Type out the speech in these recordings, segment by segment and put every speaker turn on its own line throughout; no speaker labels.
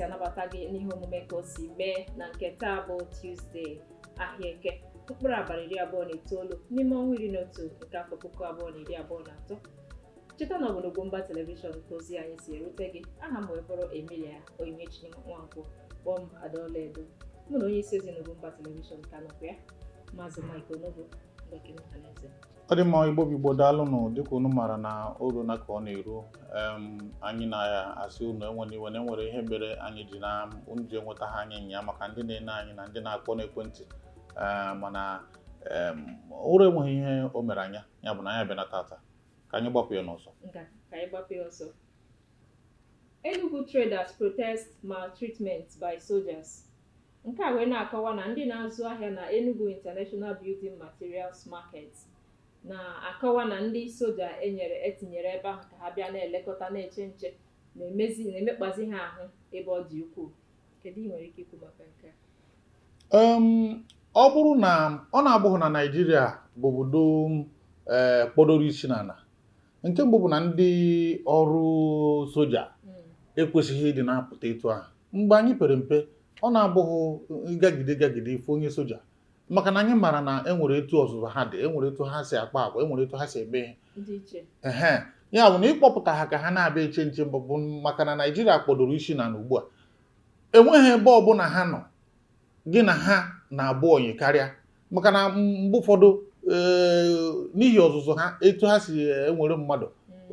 anabata gị n'ihe omume ka o si mee na nke taa bụ Tuesday ahịa eke mkpụrụ abalị iri abụọ na itoolu n'ime ọnwa iri na otu nke afọ puku abụọ na iri abụọ na atọ cheta na ọ bụ n'Ugwumba telivishọn ka ozi anyị si erute gị aha m wee bụrụ Emilia Onyinyechi Nwankwo kpọọ m Ada Ọlaedo mụ na onye isi ozi n'Ugwumba telivishọn ka nọkwa ya maazị Mike Onobo Ndọkị Mkpanaeze
ọ dị mma igbo bụ igbo daalụnụ dịka unu maara na o runa ka ọ na-eru em, anyị na-asị unu ewena iwe na e nwere ihe mere anyị ji na unu ji enwetaha anyị nya maka ndị na-ene anyị na ndị na-akpọ n'ekwentị Ee, mana em, ụra enweghị ihe o mere anya ya bụ na anyị abịana tata ka anyị gbapụ ya n'ọsọ ka anyị gbapụ ya
ọsọ Enugu traders protest maltreatment by soldiers nke a wee na-akọwa na ndị na-azụ ahịa na Enugu International Building Materials Market na-akọwa na ndị soja e nyere e tinyere ebe ahụ ka ha bịa na-elekọta na-eche nche na-emezi na-emekpazi ha ahụ ebe ọ dị ukwuu
ọ bụrụ na ọ na-abụghị na Naịjirịa bụ obodo eh, kpọdoro isi n'ana nke mbụ bụ na ndị ọrụ soja hmm. ekwesịghị ịdị na-apụta etu ahụ mgbe anyị pere mpe ọ na-abụ gị gagide gagide ị fụ onye soja maka na anyị maara na e nwere etu ọzụzụ ha dị e nwere etu ha si akpa agwa e nwere etu ha si eme ihe ehe ya bụ na ịkpọpụta ha ka ha na-abịa eche nche mbụ bụ maka na naijiria kpọdoro isi n'ana ugbu a enweghị ebe ọbụla ha nọghị na ha na-abụ onye karịa maka na mgbe ụfọdụ eh, n'ihi ọzụzụ ha etu ha si ewere mmadụ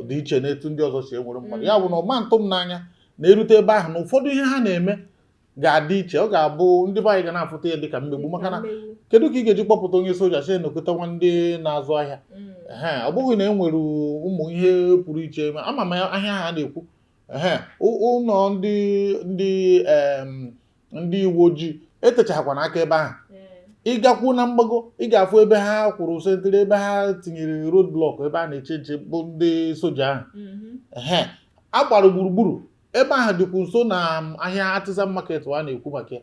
dị iche na etu ndị ọzọ si ewere mmadụ ya bụ na ọ ma ntụ m n'anya na e rute ebe ahụ na ụfọdụ ihe ha na-eme ga-adị iche ọ ga-abụ ndị be anyị ga na-afụta ya dịka mmegbu maka na kedu ka ị ga-eji kpọpụta onye soja sị nekọtawa ndị na-azụ ahịa mm. ee ọ bụghị na e nwere ụmụ ihe pụrụ iche ama m ahịa ha na-ekwu ee ụlọ ndị ndị ndị uwe ojii etechahakwana aka ebe ahụ mm. ị gakwu na mgbago ị ga-afụ ebe ha kwụrụ sentry ebe ha tinyere road block ebe a na-eche nche bụ ndị soja ahụ mm-hmm. ee a gbara gburugburu ebe ahụ dịkwu nso na um, ahịa artisan market a na-ekwu maka ya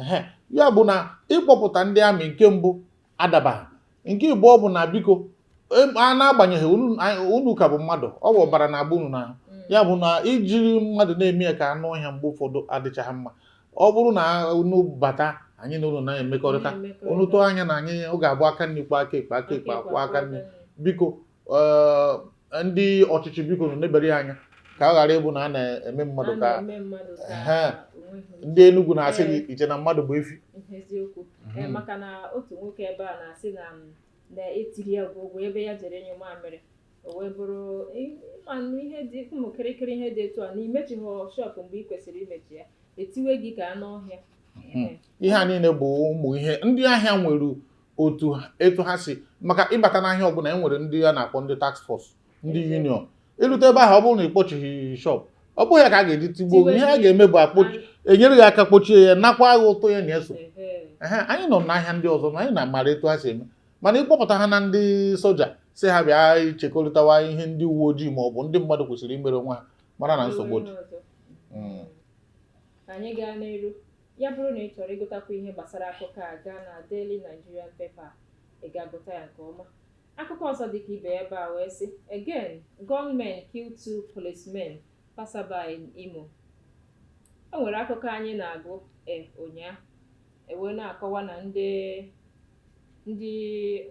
ehe ya bụ na ịkpọpụta ndị amị nke mbụ adabaghị nke ịbụọ bụ na biko a na-agbanyeghị unu ka bụ mmadụ ọ bụ ọbara na-agba unu n'ahụ mm. ya bụ na ijiri mmadụ na-eme ya ka anụ ọhịa mgbe ụfọdụ adịchaghị mma ọ bụrụ na unu bata anyị na unu na-emekọrịta unu tụọ anya na anyị ọ ga-abụ aka nri kwọọ aka ekpe aka ekpe akwọọ aka nri biko ndị ọchịchị bikonụ nebere ya anya ka ọ ghara ịbụ na a na-eme mmadụ ka ndị Enugu na-asị gị iche na mmadụ bụ efi mhm.
maka na otu nwoke ebe a na-asị na na-etiri ya bụ ụgwọ ebe ya jere ịnyụ mamịrị o wee bụrụ ịmanụ ihe dị ụmụ kịrịkịrị ihe dị etu a na imechighị shọpụ mgbe ị kwesịrị imechi ya etiwe gị ka anụ ọhịa hmm. ihe a
niile bụ ụmụ ihe ndị ahịa nwere otu etu ha si maka ịbata n'ahịa ọbụla e nwere ndị a na-akpọ ndị task force ndị union i lute ebe ahụ ọ bụrụ na ị kpọchighị shop ọ bụghị ya ka a ga-eji tigbuo gị ihe a ga-eme bụ akpochi enyere gị aka kpochie ya nakwa gị ụtụ ya na-eso anyị nọ n'ahịa ndị ọzọ na anyị na-amara etu ha si eme mana ịkpọpụta ha na ndị soja sị ha bịa chekọrịtawa ihe ndị uwe ojii ma ọ bụ ndị mmadụ kwesịrị imere onwe ha mara na nsogbu dị hmm.
Ya bụrụ na ị chọrọ ịgụtakwu ihe gbasara akụkọ a gaa na Daily Nigerian Paper ị ga-agụta ya nke ọma akụkọ ọzọ dịka ibe ya bịa wee sị again gunmen kill two policemen passerby in Imo o nwere akụkọ anyị na-agụ e ụnyaahụ e wee na-akọwa na ndị ndị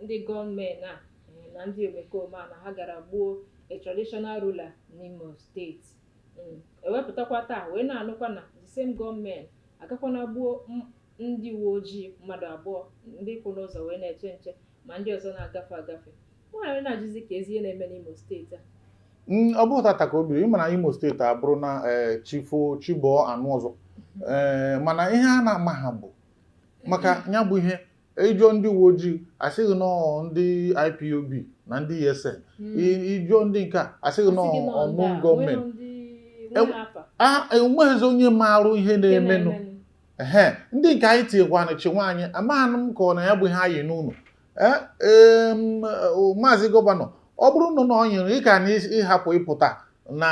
ndị gunmen a e, na ndị omekome a na ha gara gbuo a traditional ruler n'Imo steeti Mm, e wee pụtakwa taa wee na-anụkwa na the same gunmen agakwana gbuo m- ndị uwe ojii mmadụ abụọ ndị kwụ n'ụzọ wee na-eche nche ma ndị ọzọ na-agafe agafe e wee na-ajụzi kezi ihe na-eme n'Imo steeti a Mm, ọ
bụghị tata ka o bido ị ma na Imo steeti abụrụ na eh, chi fo chi bọọ a nụ ọzọ Eh, mana ihe a na-amaghị bụ maka ya bụ ihe ị jụọ ndị uwe ojii a sị gị na ọ ndị IPOB na ndị ESN ị jụọ hmm. ndị nke a a sị gị na ọ unknown gunmen enweghịzi onye marụ ihe na-emenụ ee ndị nke anyị tinyekwana chi nwaanyị amaghị m ka ọ na ya bụ ihe anyị n'ụlọ e, maazị gọvanọ ọ bụrụ na ọ nyere ị ga na ịhapụ ịpụta na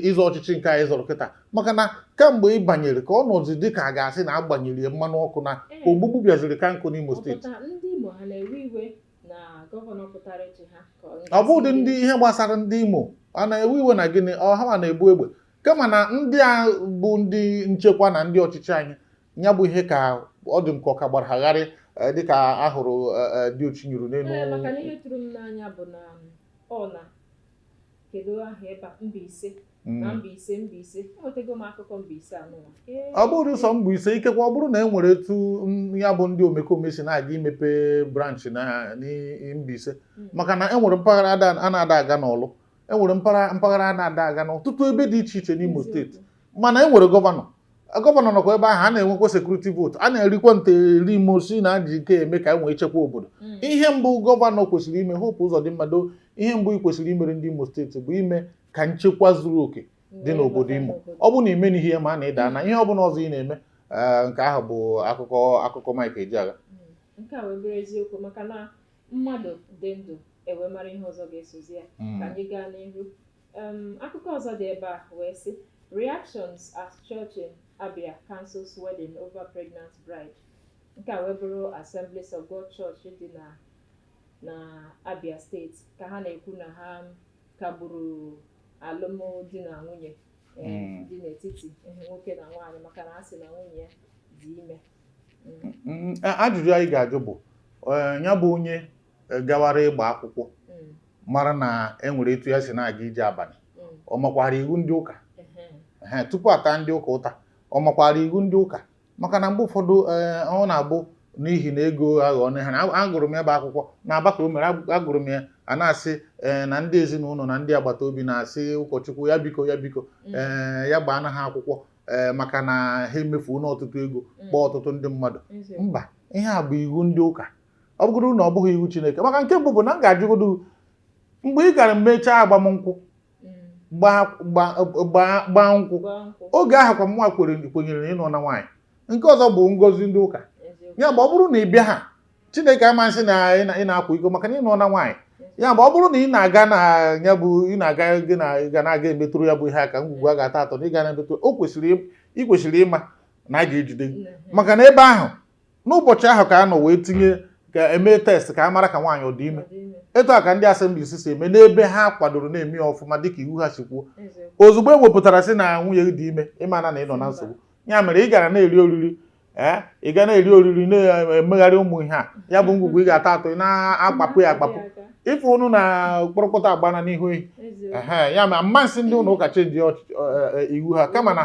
ịzọ ọchịchị nke a ị zọrọ kịta maka na kamgbe ị banyere ka ọ nọzi dị ka a ga-asị na agbanyere ya mmanụ ọkụ na
ogbugbu bịaziri
ka njọ n'Imo
steeti ọ bụdị ndị
ihe gbasara ndị Imo a na-ewe iwe na gịnị ọ ha na-ebu egbe kama na ndị a bụ ndị nchekwa na ndị ọchịchị anyị ya bụ ihe ka ọ dị m ka ọ ka gbara ha gharị Eh, dịka ahụrụ eh, eh, diochi nyụrụ n'elu maka na ihe tụrụ m n'anya
bụ na um, ọ na kedu aha ebe a Mbaise Mm. na Mbaise Mbaise enwetago m akụkọ Mbaise anụwa ọ bụrụ ụsọ
Mbaise ikekwe ọ bụrụ na e nwere etu mm, ya bụ ndị omekome si na-aga imepe branchị na n'i- Mbaise Mm. maka na e nwere mpaghara ada- a na-ada aga n'Ọlụ e nwere mpaghara mpaghara a na-ada aga n'ọtụtụ ebe dị iche iche n'Imo steeti mana e nwere gọvanọ gọvanọ nọkwa ebe ahụ a na-enwekwa sekuriti vootu a na-erikwa nte eri mosi na ji ike eme ka e nwee nchekwa obodo hmm. ihe mbụ gọvanọ kwesịrị ime Hope Uzodimma ihe mbụ ị kwesịrị imere ndị imo steeti bụ ime ka nchekwa zuru oke dị n'obodo imo ọ bụ na ime n'ihe ihe maa na ị daana ihe ọ bụla ọzọ ị na-eme eh, nke ahụ bụ akụkọ akụkọ Mike Ejeagha hmm. nke a wee bụrụ
eziokwu maka na mmadụ dị ndụ e wee mara ihe ọzọ ga-esozi ya hmm. ka anyị gaa n'ihu Um, akụkọ ọzọ dị ebe a wee sị reactions as church in Abia cancels wedding over pregnant bride nke a wee bụrụ Assemblies of God Church dị na na Abia steeti ka ha na-ekwu na ha kagburu alụmdi na nwunye eh, hmm. dị n'etiti eh, nwoke na nwaanyị maka na a sị na nwunye ya dị ime hmm.
Hmm, ajụjụ anyị ga-ajụ bụ eh, ya bụ onye eh, gawara ịgba akwụkwọ mm. mara na enwere etu ya si na-aga ije abalị mm. ọ makwara iwu ndị ụka tupu a taa ndị ụka ụta ọ makwara iwu ndị ụka maka na mgbe ụfọdụ eh, ọ na-abụ n'ihi na ego aghọ ọnụ ha na agụrụ m ya bụ akwụkwọ n'Aba ka o mere agụrụ m ya a na-asị eh, na ndị ezinụlọ na ndị agbata obi na-asị ụkọchukwu ya biko ya biko mm. eh, ya gbaa na ha akwụkwọ eh, maka na ha emefuona ọtụtụ ego mm. kpọọ ọtụtụ ndị mmadụ mba ihe a bụ iwu ndị ụka ọ bụgoro na ọ bụghị iwu Chineke maka nke mbụ bụ na m ga-ajụgodo mgbe ị gara mechaa agbamnkwụ gbaa nkwụ oge ahụ ka mụwa kwenyere na ị nụọna nwaanyị nke ọzọ bụ ngọzi ndị ụka ya bụ ọ bụrụ na ị bịaha Chineke ama asị na ị na-akwa iko maka na ị nụọna nwaanyị ya bụ ọ bụrụ na ị na-aga na ya bụ ị na-aga gị na ị ga na-aga emetụrụ ya bụ ihe aka ngwugwu a ga-atọ atọ na ị ga na-emetụrụ o kwesịrị ị kwesịrị ịma na a ga-ejide gị maka na ebe ahụ n'ụbọchị ahụ ka a nọ wee tinye ka e mee test ka a mara ka nwaanyị ọ dị ime etu a ka ndị Assemblies si eme n'ebe ha kwadoro na-eme ya ọfụma dịka iwu ha si kwuo ozugbo e wepụtara sị na nwunye gị dị ime ị mana na ị nọ na nsogbu ya mere ị gara na-eri oriri ee ị ga na-eri oriri na-emegharị ụmụ ihe a ya bụ ngwugwu ị ga-atọ atọ ị na-akpapụ ya akpapụ ife unu na kpọrọkọta agbana n'ihu ehi ya ama m asị ndị ụlọ ụka chenji e, e, iwu ha kama na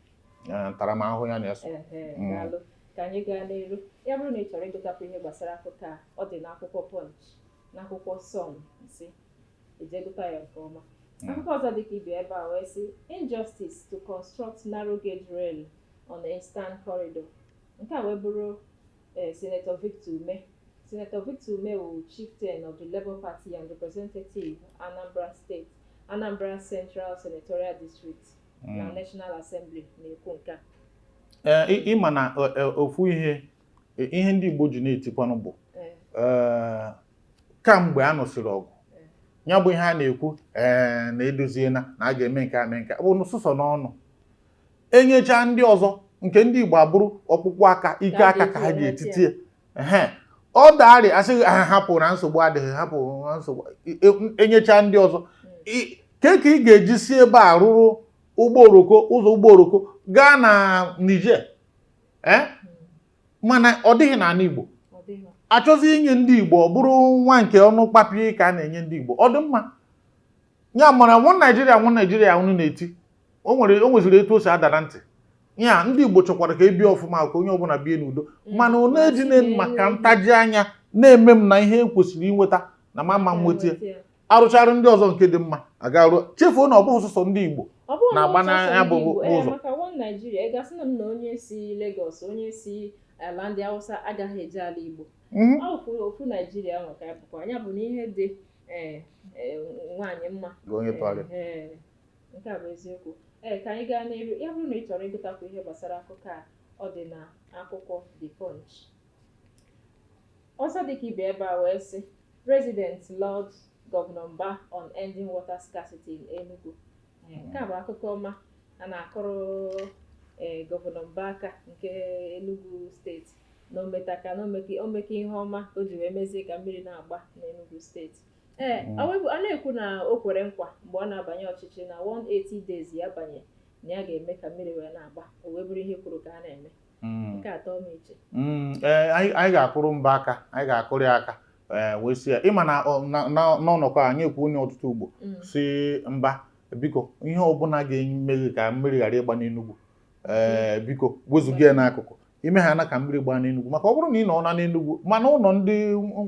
ntaramahụhụ ya na-eso
mm. ka anyị gaa n'iru ya bụrụ na ị chọrọ ịgụtakwu ihe gbasara akụkọ a ọ dị n'akwụkwọ Punch n'akwụkwọ Sun ị jee gụta ya nke ọma mm. akụkọ ọzọ dịkwa ebe ebe a wee sị injustice to construct narrow gauge rail on the eastern corridor nke a wee bụrụ eh, Senator Victor Umeh Senator Victor Umeh wụ chieftain of the Labour Party and representative Anambra State Anambra Central Senatorial District hmm. na National Assembly na-ekwu nke a eh, ịma na
eh, eh, ofu ihe ihe ndị Igbo ji na-etikwanụ bụ kamgbe a nụsịrị ọgụ ya bụ ihe a na-ekwu ee na edoziela na a ga-eme nke a mee nke bụ sọsọ n'ọnụ enyechaa ndị ọzọ nke ndị Igbo abụrụ ọkpụkpụ aka ike aka ka ha ji etiti ehe ọ daarị a sị ha hapụ na nsogbu adịghị hapụ na nsogbu e- e- enyecha ndị ọzọ I- kee ka ị ga-eji si ebe a rụrụ ụgbọ oroko ụzọ ụgbọ oroko gaa na Niger ee mana ọ dịghị n'ala Igbo ọ dịghị achọzi inye ndị Igbo ọ bụrụ nwa nke ọnụ kpapie ka a na-enye ndị Igbo ọ dị mma ya mara one naijiria one naijiria unu na-eti o nwere o nweziri etu o si ada na ntị ya ndị igbo chọkwara ka ebie ọfụma ka onye ọbụla bie n'udo mana onye ejina maka ntaji anya na-eme m na ihe m kwesịrị inweta na m ama nweta arụchara ndị ọzọ nke dị mma a garuo chefuo na ọ bụghị sọsọ ndị igbo na-agba na ya bụ ụzọ maka one naijiria
ị ga-asị na m na onye si Lagos onye si ala ndị Hausa agaghị eje ala igbo ọ bụkwa ofu naijiria ahụ ka ya bụkwa ya bụ na ihe dị ee ee, nwaanyị mma Gị onye parị. Ee, nke a bụ eziokwu ee ka anyị gaa n'iru ya bụrụ na ị chọrọ ịgụtakwu ihe gbasara akụkọ a ọ dị na akwụkwọ the punch ọzọ dịka ibe ebe a wee sị residents laud governor mba on ending water scarcity in enugu nke a bụ akụkọ ọma a na-akụrụ ee gọvanọ Mba aka nke Enugu steeti na ometaka na omeke omeke ihe ọma o ji wee mezie ka mmiri na-agba n'Enugu steeti ee Mm. ọ wee- a na-ekwu na o kwere nkwa mgbe ọ na-abanye ọchịchị na 180 days ya banye na ya ga-eme ka mmiri wee na-agba o wee bụrụ ihe e kwuru ka a na-eme hmm. hmm, eh,
anyị ga-akụrụ mba aka anyị ga-akụrụ ya aka eh, wee sị ya ịma na n'ọnọkọ anyị ekwuona ya ọtụtụ ugbo hmm. sị mba biko ihe ọbụla ga-eme ka mmiri ghara ịgba n'enugwu ee eh, biko wezụga ya n'akụkụ i mehana ka mmiri gbaa n'enugwu maka ọ bụrụ na ị nọna n'enugwu ma na ụlọ ndị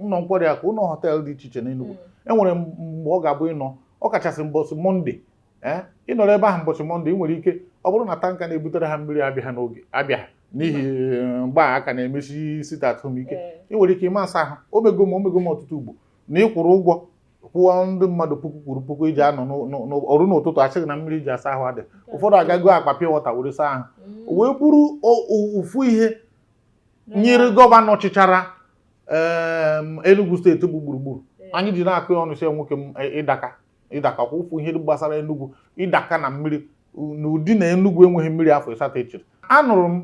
ụlọ nkwari akụ ụlọ họteelụ dị iche iche n'enugwu enwere mgbe ọ ga-abụ ịnọ ọ kachasị mbọsị mọnde ee ịnọrọ ebe ahụ mbọchị mọnde ị nwere ike ọ bụrụ na tanka na-ebutere ha mmiri abịa n'oge abịa n'ihi eh, mgbe a ka na-emesi sit at home ike ị nwere ike ị ma asa ahụ omego m omego m ọtụtụ ugbo na ịkwụrụ ụgwọ kwụọ ndị mmadụ puku kwuru puku iji anọ o rue n'ụtụtụ a sị gị na mmiri e ji asa ahụ adị ụfọdụ aga goo akpa pure water were saa ahụ mm. wee bụrụ ofu ihe nyere gọvanọ chịchara Enugu steeti bụ Gburugburu anyị ji na-akọ ya ọnụ sị nwoke m e, ị daka ịdakakwa ụfụ ihe gbasara Enugu ịdaka na mmiri n'ụdị na Enugu enweghị mmiri afọ ịsatọ echiri anụrụ m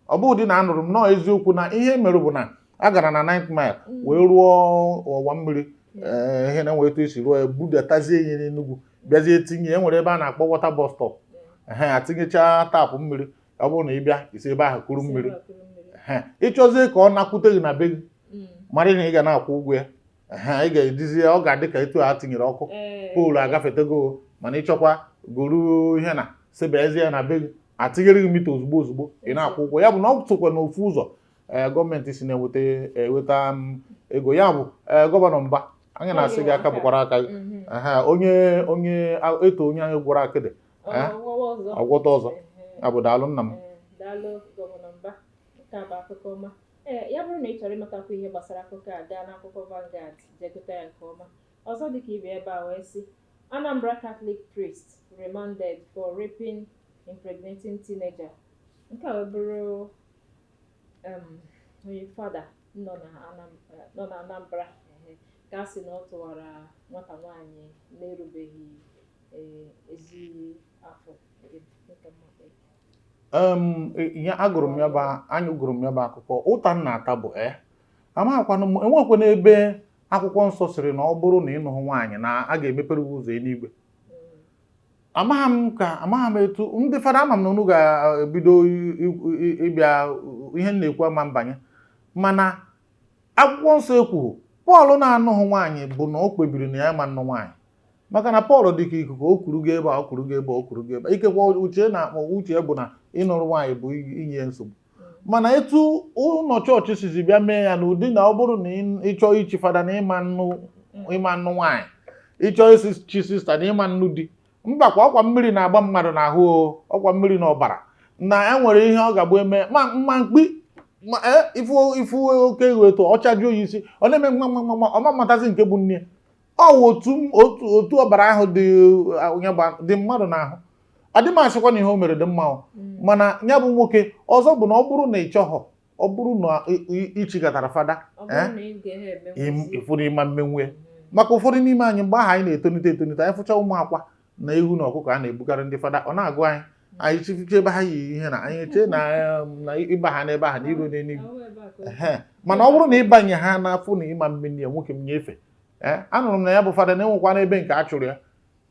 ọ bụ ụdị na anụrụ m nọọ eziokwu na ihe e mere bụ na a gara na ninth mile mm. wee rụọ ọwa mmiri mm. eh, ihe na enwe etu esi rụọ ya budatazie ihe n'Enugu bịazie tinye e nwere ebe a na-akpọ water bus stop mm. a tinyechaa taapụ mmiri ọ bụrụ na ị bịa i si ebe ahụ kuru mmiri ị chọzie ka ọ nakwute gị na be gị mara na ị ga na-akwụ ụgwọ ya ha ị ga-edizi ọ ga-adị ka etu a tinyere ọkụ poolu agafetego mana ị chọkwa goro ihe na sebezie na be gị a tinyere gị mita ozugbo ozugbo ị na-akwụ ụgwọ ya bụ na ọ sokwa n'ofu ụzọ eh, gọọmenti si na-enweta eweta eh, mm, ego ya bụ eh, Gọvanọ Mbah anyị na-asị gị aka bụkwara aka gị mhm. onye onye e too nwaanyị gwọrọ akịdị ọ gwọta ọzọ abụ daalụ nna m
ee ya bụrụ na ị chọrọ ịmatakwu ihe gbasara akụkọ a gaa n'akwụkwọ Vanguard je gụta ya nke ọma ọzọ dịka ibe ya bịa wee sị Anambra Catholic priest remanded for raping impregnating teenager nke a wee bụrụ um, onye fada nọ na Anam- eh, nọ na Anambra ehe, ka a sị na ọ tụwara nwata nwaanyị na-erubeghị eh, ezi afọ nke mmadụ. ya agụrụ m ya bụ anyị gụrụ m ya bụ akụkọ ụta m na-ata bụ e amaghịkwana m e nwekwanụ ebe akwụkwọ nsọ sịrị na ọ bụrụ na ị nụhụ nwaanyị na a ga-emepere gị ụzọ enigwe amaghị m ka amaghị m etu ndị fada ama m na unu ga-ebido ịbịa ihe m na-ekwu ama mbanye mana akwụkwọ nsọ ekwughị Pọl na-anụghị nwaanyị bụ na o kpebiri na ya ama nnụ nwaanyị maka na Pọl dị ka ikuku o kuru je ebe a o kuru je ebe a, o kuru je ebe a. ikekwe uche na ma uche bụ na ịnụrụ nwaanyị bụ inye nsogbu mana etu ụlọ chọọchị sizi bịa mee ya n'ụdị na ọ bụrụ na ị- ị chọọ ichi fada na ị ma nnụ ị ma nnụ nwaanyị ị chọọ ichi sista na ị ma nnụ di mbakwa ọkwa mmiri na-agba mmadụ n'ahụ o, ọkwa mmiri na ọbara na e nwere ihe ọ ga-abụ eme ma mma mkpi ma e, ị fụ ị fụ oke eghu etu ọchaji oyi isi ọ na-eme mma mma mma mma, ọ ma mmatazi nke bụ nne ọ wụ otu otu otu ọbara ahụ dị uh, onye gba dị mmadụ n'ahụ adị m asịkwa na ihe o mere dị mma o. Mm. mana ya bụ nwoke ọzọ bụ na ọ bụrụ na ị chọghọ ọ bụrụ na ị- ị- ị chigatara fada Ọ bụrụ eh? na ị gaghị eme im- nkwụsị. ị fụrụ ị ma mmenwu Mm. maka ụfọdụ n'ime anyị mgbe ahụ anyị na-etonite etonite anyị fụcha ụmụ akwa na ewu na ọkụkọ a na-ebugara ndị fada ọ na-agụ anyị anyị chifiche ebe ha yi ihe na anyị chee na um, na ị bahaa n'ebe ahụ na i ru n'enigwe ehe mana ọ bụrụ na ị banyehaa na-afụ na ị ma mmeni ya nwoke m nyefe ee anụrụ m na ya bụ fada na e nwekwanụ ebe nke a chụrụ ya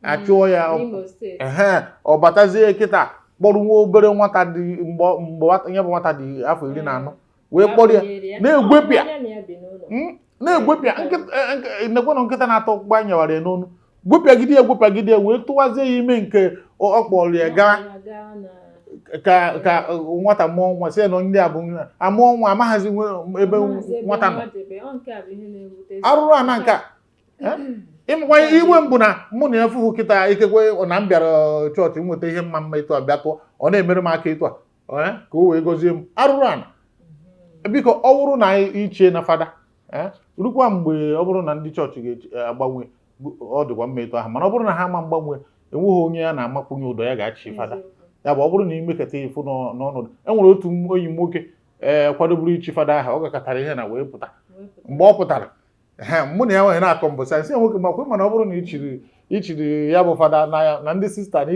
a chụọ ya ọ- N'Imo steeti. ehe ọ batazie kịta kpọrọ nwa obere nwata dị mgbe mgbe nwata- ya bụ nwata dị afọ iri na anọ wee kpọrọ ya na-egwepịa hmm? na-egwepịa nekwenụ nkịta na-atọ ụgbọ anyị nyewara ya n'ọnụ gwepịagide ya gwepịagide ya wee tụwazie ya ime nke ọ kpọrọ ya gaa ka ka nwata mụọ nwa si na ndị a bụ amụọ nwa amaghazi ebe nwata nọ arụrụ ana nke a ịmakwa iwe m bụ na mụ na ya fụhụ kịta ikekwe na m bịara chọọchị nweta ihe mma mma etu a bịa tụọ ọ na-emere m aka etu a eh, ka o wee gọzie m arụrụ ana mm-hmm. biko ọ bụrụ na ichie na fada eh, rukwa mgbe ọ bụrụ na ndị chọọchị ga-agbanwe ọ dịkwa mma etu ahụ mana ọ bụrụ na ha ma mgbanwe
enweghị onye a na-amakwunye ụdọ ya ga-echi fada ya bụ ọ bụrụ na
ị
mekata ịfụ n'ọnọdụ e nwere otu onye nwoke ee eh, kwadoburu ichi fada aha ọ gakatara ihe na wee pụta mgbe ọ pụtara mụ na ya wee na-akọ mbọsị m sị nwoke m akwa ma na ọ bụrụ na ichiri ichiri ya bụ fada n'anya na ndị sista na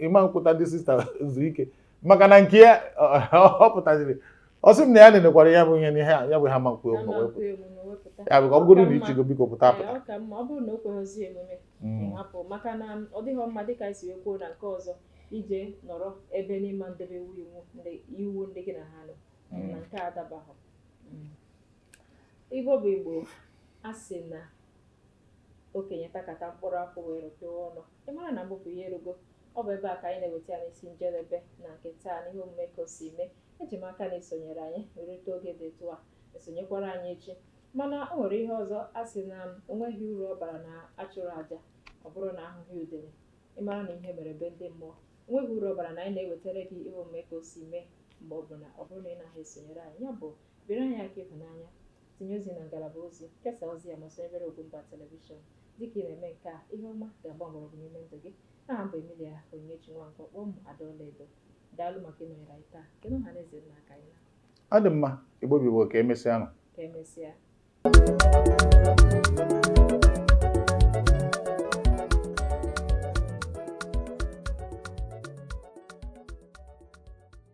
ịma nkwụta ndị sista zu ike maka na nke ya ọ pụtaziri ọ sị m na ya nenekwara ya bụ ihe na ihe ya bụ ha ma nkwe ya bụ ka ọ bụrụ na ichigo biko pụta
pụta ije nọrọ ebe n'ịma ndebe iwu ndị gị na ha nọ mm. na nke a adabaghị mm. Igbo bụ Igbo a sị na okenye takata mkpụrụ akwụ wee rụpịa ọnụ ị mara na mbụpụ ihe erugo ọ bụ ebe a ka anyị na-eweta ya n'isi njedebe na nke taa n'ihe omume ka o si mee eji m aka na isonyere anyị rute oge dị etu a esonyekwara anyị echi mana o nwere ihe ọzọ a sị na o nweghị uru ọ bara na achụrụ aja ọ bụrụ na ahụghị udele ị mara na ihe mere be ndị mmụọ nweghị uru ọ bara na anyị na-ewetara gị ihe omume ka o si mee mgbe ọ bụla ọ bụrụ na ị naghị esonyere anyị ya bụ Biri anyị aka ịhụnanya, tinye ozi na ngalaba ozi, kesaa ozi a ma sonyebere Ugwumba Telivishọn. Dịka ị na-eme nke a, ihe ọma ga-agba mgbọrọgwụ n'ime ndụ gị. Aha m bụ Emilia Onyinyechi Nwankwo, kpọọ m Ada Ọlaedo. Daalụ maka ịnọnyere anyị taa. Kenee ọha na eze nna ka anyị
naa.
Ọ dị mma,
Igbo bụ
Igbo
ka emesịa nụ.
Ka emesịa.